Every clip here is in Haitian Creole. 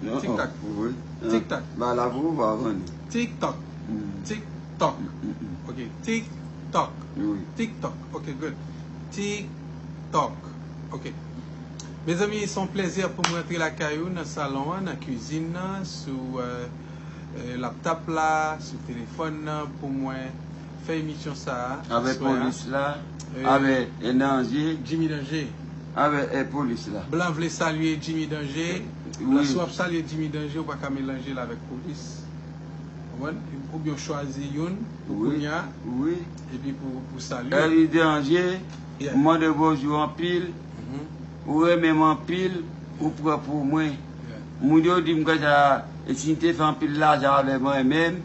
Tik tak Tik tak Ba la pou ou va vann Tik tok Tik tok Ok tik tok Tik tok Ok good Tik tok Ok Mezanmi son plèzi pou mwen antre lakay ou nan salon an nan kizin nan sou laptop la sou telefòn nan pou mwen fè emisyon sa a aswè a. Avè polis la, avè danje. Jimmy danje. Avè polis la. Blan vle salye Jimmy danje. Blan si w ap salye Jimmy danje ou pa ka melanje l avèk polis. Konprann? Ou byen w chwazi youn pou kounya. Wi. Epi pou salye. Eli danje, m mande bonjou anpil. Ou renmen m anpil, ou pran pou mwen. Moun yo di m konsa, si m te fè anpil lajan avè mwen menm.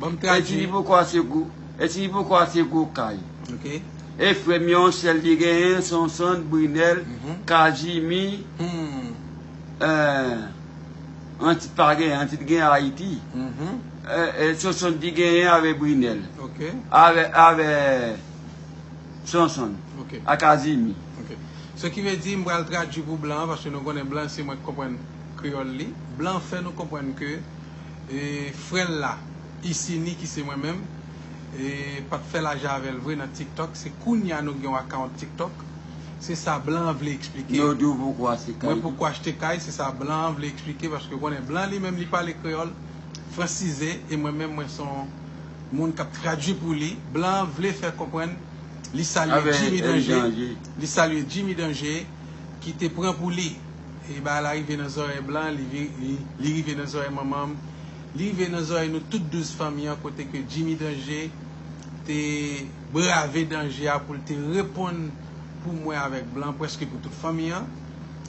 Banm tradwi. E ti li poko ase gwo. E ti li poko ase gwo kay. Ok. E frè m yo an sèl li genyen, Sonson, Brinèl, Kazimi. Hum. Eh. Antit pa genyen, Antit genyen Ayiti. Hum. Eh, Sonson di genyen avè Brinèl. Ok. Avè, avè Sonson. Ok. A Kazimi. Ok. Se ki ve di m pral tradwi pou blan an, paske nou konnen blan se mwen k konprann kreyòl li. Blan fè nou konprann ke. E frè l la, Isini ki se mwen menm, e pa t fè lajan avè l vre nan TikTok, se kounya nou gen yon account TikTok. Se sa blan an vle eksplike. Yo di w poko achte kay. Mwen poko achte kay, se sa blan an vle eksplike paske ou konnen blan li menm li pale kreyòl fransize e mwen menm mwen son moun k ap tradui pou li. Blan an vle fè konprann li salye Jimmy Danje, li salye Jimmy Danje ki te pran pou li. E bagay la rive nan zòrèy blan, li rive nan zòrèy manman m, li rive nan zòrèy nou tout 12 fanmi an kote ke Jimmy Danger te brave danje a pou l te reponn pou mwen avèk blan prèske pou tout fanmi an.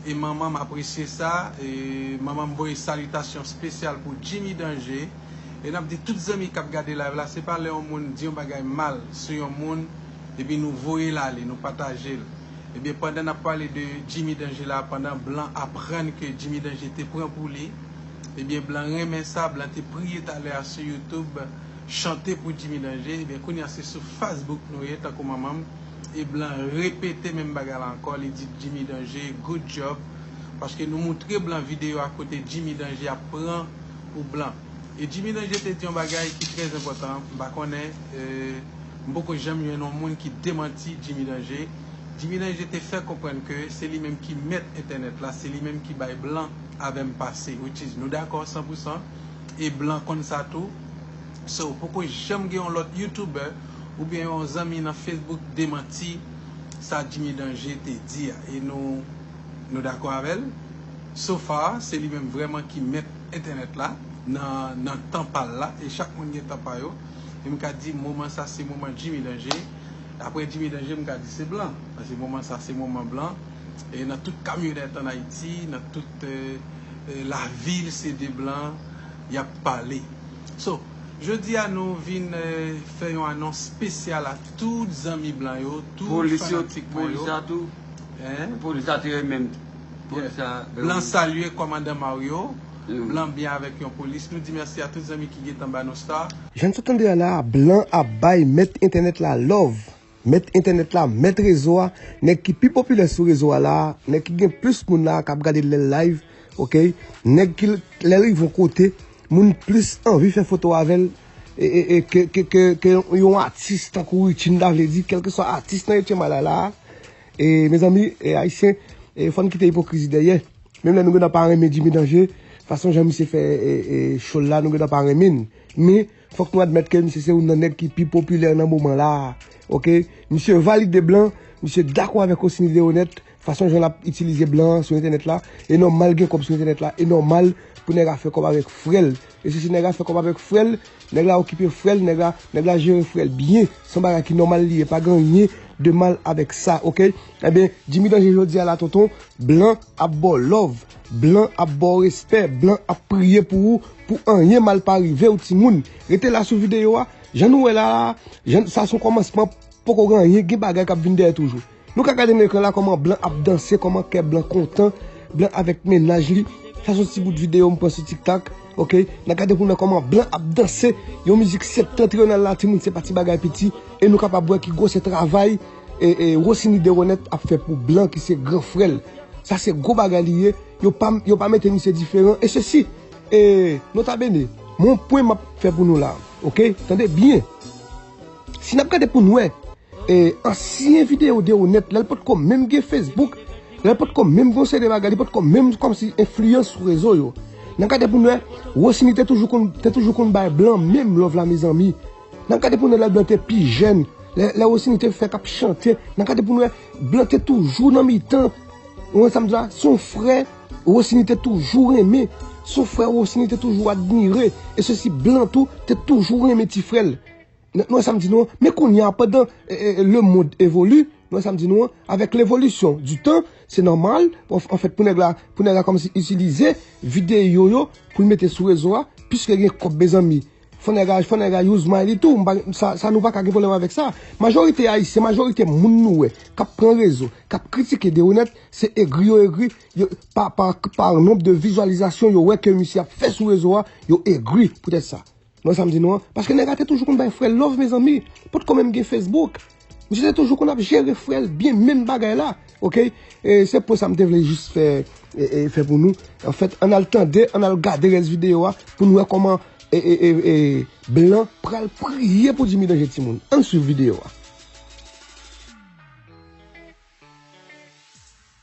E manman m apresye sa, e manman m voye salitasyon spesyal pou Jimmy Danger. E n ap di tout zanmi k ap gade live la, se pa lè yon moun di yon bagay mal sou yon moun epi nou voye l ale, nou pataje l. Ebyen pandan nap pale de Jimmy Danger la pandan blan aprann ke Jimmy Danger te pran pou li ebyen blan renmen sa blan te priye talè a sou youtube chante pou Jimmy Danger ebyen kounye a se sou Facebook nou ye tankou manmanm e blan repete menm bagay la ankò li di Jimmy Danger good job paske nou moutre blan video a kote Jimmy Danger ap pran pou blan e Jimmy Danger te di yon bagay ki trè zenpòtan m pa konnen. M poko janm jwenn yon moun ki demanti Jimmy Danger. Jimmy Danger te fè konprann ke se li menm ki mèt entènèt la, se li menm ki bay blan avè m pase, which is nou dakò san pou san, e blan konn sa tou. So, poko janm gen yon lòt youtuber oubyen yon zanmi nan Facebook demanti sa Jimmy Danger te di a. E nou, nou dakò avè l? So far, se li menm vrèman ki mèt entènèt la nan, nan tan pa l la, e chak moun gen tan pa yo. e m ka di moman sa se moman Jimmy Danger, aprè Jimmy Danger m ka di se blan, paske moman sa se moman blan, e nan tout kamyonèt an Ayiti, nan tout lavil se de blan y ap pale. So, jodi a nou vin fè yon anons spesyal a tout zanmi blan yo, tout fanatik mwen yo. Polis yo, polis la tou, polis la te remen m. Blan salye kòmandan Mario. Blan byen avek yon polis. Nou di merci a tout zanmi ki gentan ba nou star. Jann sa tande a la a blan ap bay mèt entènèt la love mèt entènèt la mèt rezo a nèg ki pi popilè sou rezo a la a nèg ki gen plis moun la a kap gade lèl live ok nèg ki lèl rive yon kote moun plis anvi fè foto avèl ke yon atis tankou Richie m ta vle di kelkeswa atis nan 8 ème ane la a. E mezanmi e ayisyen e fòn kite ipokrizi dèyè menm lè nou gentan pa renmen Jimmy Danger fason jan misye fè e show la nou gentan pa renmin men fòk nou admèt ke misye se youn nan nèg ki pi popilè nan moman la ok misye valide blan misye dakò avèk Rosny Leonèt fason jan lap itilize blan sou entènèt la e nòmal gen kòb sou entènèt la e nòmal pou nèg a fè kòb avèk frèl. Mesye si nèg a fè kòb avèk frèl, nèg la okipe frèl, nèg la, nèg la jere frèl byen, son bagay ki nòmal li ye pa gen anyen de mal avèk sa ok, enben Jimmy Danje jodi a la tonton blan ap baw lòv, blan ap baw respè, blan ap priye pou ou pou anyen mal pa rivew timoun, rete la sou videyo a, jan nou wè la la, jan sa son kòmansman poko gen anyen gen bagay kap vin dèyè toujou. Nou ka gade nan ekran la koman blan ap danse koman kè blan kontan blan avèk mennaj li sa son ti bout video m pran sou tiktak ok nan gade pou nou wè koman blan ap danse yon mizik septentrional la timoun se pa ti bagay piti e nou kapab wè ki gwo se travay e Rossini Deronette ap fè pou blan ki se gran frè l sa se gwo bagay li ye yo pa yo pa mete misye diferan e sesi e nota bene m'en pwen map fè pou nou la ok tande byen. Si nap gade poun wè ansyen video de ou nèt lèl potko menm gen Facebook lèl potko menm gen yon seri de bagay li potko menm kòmsi enfliyans sou rezo yo nan gade poun wè Rosny te toujou konn te toujou konn bay blan menm love la mezanmi nan gade poun wè lè blan te pi jèn lè Rosny te fèk ap chante nan gade poun wè blan te toujou nan mitan ou wè sam di la se yon frè Rosny te toujou renmen se yon frè Rosny te toujou admire e sosi blan tou te toujou renmen ti frèl. Nou wè sa m di nou an, men kounye a pandan le mond evoli, nou wè sa m di nou an, avèk levolisyon di tan, se nòmal, anfèt pou nèg la, pou nèg la kòmanse itilize videyo yo pou l mete sou rezo a, piske gen kòb mezanmi, fò nèg la, fò nèg la use mind li tou, m pa, sa nou pa ka gen pwoblèm avèk sa. Majorite ayisyen, majorite moun nou wè k ap pran rezo, k ap kritike Deronette, se egri yo egri, yo, pa, pa, pa nomb de vizualizasyon yo wè ke misye ap fè sou rezo a, yo egri poutèt sa. Mwen sa m di nou an, paske nèg la te toujou konn bay frè l love mezanmi, potko menm gen Facebook. Misye te toujou konn ap jere frè l byen menm bagay la ok. E se pwen sa m te vle jis fè fè pou nou. Anfèt ann al tande, ann al gade rès videyo a pou n wè kòman blan pral priye pou Djimi Danje timoun. Ann swiv videyo a.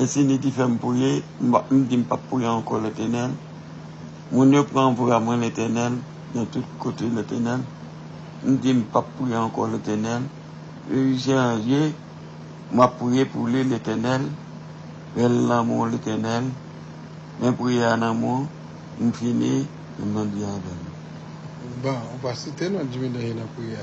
E si li ki fèm priye, m di m pap priye ankò Letenèl. Moun yo pran pou amwen Letenèl nan tout kote Letenèl. M di m pap priye ankò Letenèl. E ui se an je map priye pou li Letenèl. Bèl lanmou Letenèl. Men priye a nan mou, m fini, men bandi avèm. Bon, ou pa site non Jimmy Danje nan priyè.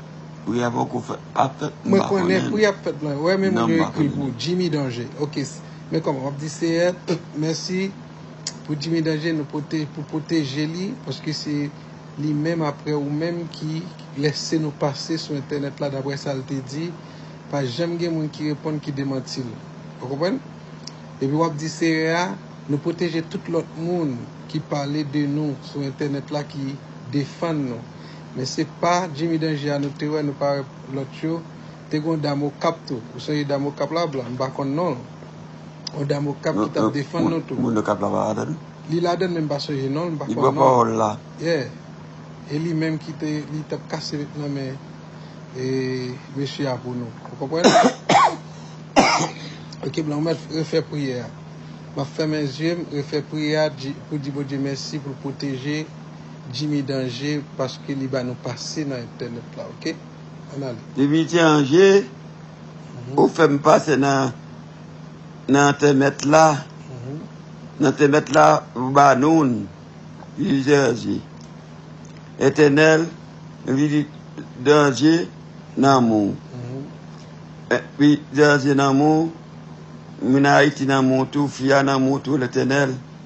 Priya poko fèt ap fèt m pa konnen. Mwen konnen priya ap fèt mwen wè men moun yo ekri pou Jimmy Danger ok men kòman wap di Seyè mèsi pou Jimmy Danger nou pote pou pwoteje li paske se li menm aprè ou menm ki lèse nou pase sou entènèt la daprè sal te di pa janm gen moun ki reponn ki demantil ou konprann epi wap di Seyè a nou pwoteje tout lòt moun ki pale de nou sou entènèt la ki defann nou. Men se pa Jimmy Danger a nou te wè nou pa wè lòt yo, te gen yon dam Okap tou ou sonje dam Okap la blan m pa konn non l yon dam Okap ki tap defann nou tou. Moun Okap la pa ladann? Li ladann men m pa sonje non l m pa konn non l. Li pran pawòl la? Yeah e li menm ki te li tap kase vèt nan men mesye a pou nou ou konprann? Ok blan ou mèt refè priyè a. M ap fèmen zye m refè priyè a pou di Bondye mèsi pou l pwoteje Jimmy danje paske li ba nou pase nan entènèt la ok an ale. Jimmy danje ou fèm pase nan entènèt la nan entènèt la ou ba noun Jimmy danje entènèl Jimmy danje nan mou Jimmy danje nan mou moun ayiti nan mou tou fi a nan mou tou lentènèl.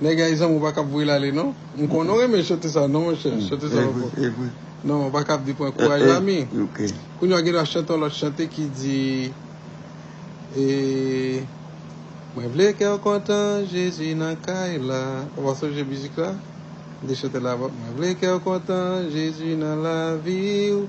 Nèg ay zanmi ou pa kap voye l ale non m konnen ou renmen chote sa non monchè chote sa pa bon non ou pa kap di pran kouraj lami kounya w gen dwa chante yon lòt chante ki di mwen vle kè w kontan jezi nan kay la ou pa sonje mizik la m te chante l avan mwen vle kè w kontan jezi nan lavi w.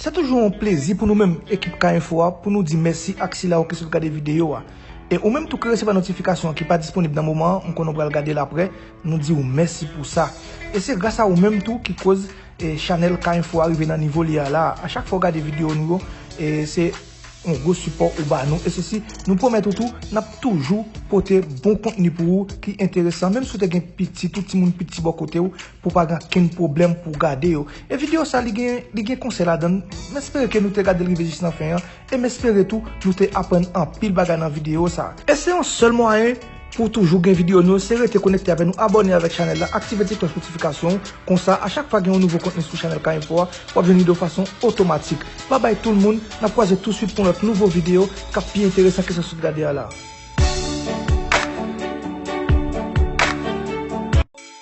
Se toujou yon plezi pou nou menm ekip K Info a pou nou di mèsi ak sila yo ki sot gade videyo a. E ou menm tou ki resevwa notifikasyon an ki pa disponib nan moman an, m konnen w pral gade l aprè, nou di w mèsi pou sa. E se gras a ou menm tou ki koz chanèl K Info a rive nan nivo li a la a. A chak fwa w gade videyo nou yo, se yon gwo sipò ou ba nou. E se si nou pwomèt ou tou, n ap toujou pote bon kontni pou ou ki enteresan. Menm si w te gen pitit ou, timoun piti bò kote w, Pou pa gen kenn pwoblèm pou w gade yo. E videyo sa li gen li gen konsèy ladann. M espere ke nou te gade l rive jis nan fen an. E m espere tou nou te aprann anpil bagay nan videyo sa. E se yon sèl mwayen pou w toujou gen videyo nou yo se rete konekte avè nou abòne avèk chanèl la aktive ti klòch notifikasyon w konsa a chak fwa gen yon nouvo kontni sou chanèl K Info a w ap jwenn li de fason otomatik. Babay tout l moun n ap kwaze touswit pou yon lòt nouvo videyo k ap pi enteresan ke sa w sot gade a la.